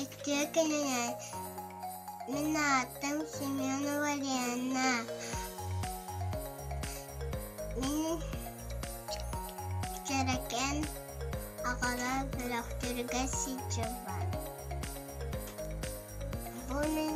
Иккиэ кинилэр мин аатым Семена Валерьевна. Мин Чэрэкэн аҕала бөлөхтөргө сылдьыбын. Бу мин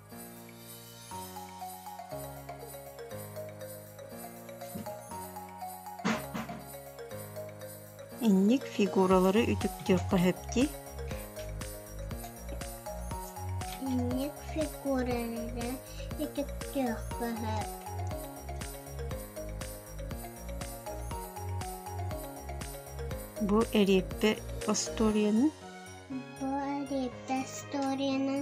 Инник фигуралары үтүктүөххэ сөптүй? Инник фигуралары үтүктүөххэ сөп. Бу эриэппэ историянын? Бу эриэппэ историянын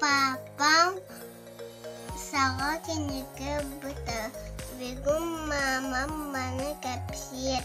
Папам саҕа кинигэ ылбыта, бегум маамам маны кэпсиир